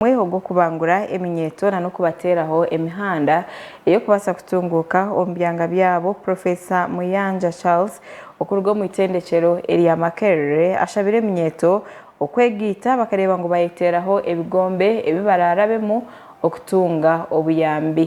omwiha ogw'okubangura eminyeeto nana okubateeraho emihanda ey'okubaasa kutunguuka omu byanga byabo, Profesa Muyanja Charles okuruga omu itendekyero erya Makerere ashabire eminyeeto okwegaita bakareeba ngu bayeteeraho ebigombe ebi baraarabemu okutunga obuyambi.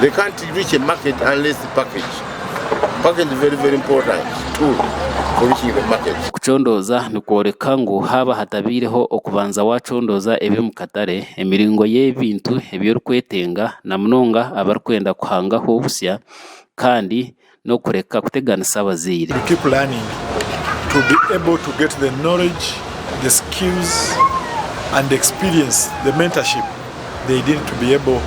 they can't reach a market unless the package package very very important tool for reaching the market. Kucondooza nikworeka ngu haaba hatabaireho okubanza waacondooza eby'omu katare, emiringo y'ebintu ebi orikwetenga na munonga abarikwenda kuhangaho busya kandi n'okureka kuteganisa abazaire. We keep learning to be able to get the knowledge, the skills and the experience, the mentorship they need to be able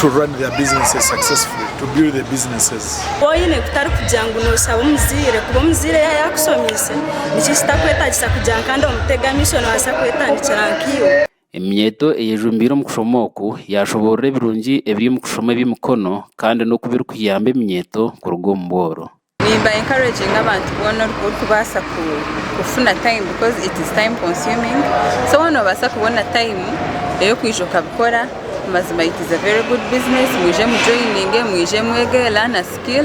to run their businesses successfully, to build their businesses. Woine kutari kugira ngu noshaba omuzaire kuba omuzaire yaba yakushomiise, niki ekitakwetagisa kugira ngu kandi omutege amaisho nabasa kwetandikira nkaiwe. Eminyeeto eyejumbiire omu kushoma oku yaashoboorora ebirungi ebiri omu kushoma eby'emikono kandi n'oku birikuyamba eminyeeto kuruga omu bworo. Nimba encouraging abantu boona orikubaasa kufuna time because it is time consuming so waaba noobaasa kubona time ey'okwija okabikora mazima it is a very good business mwije mu joininge mwije mwege learn a skill.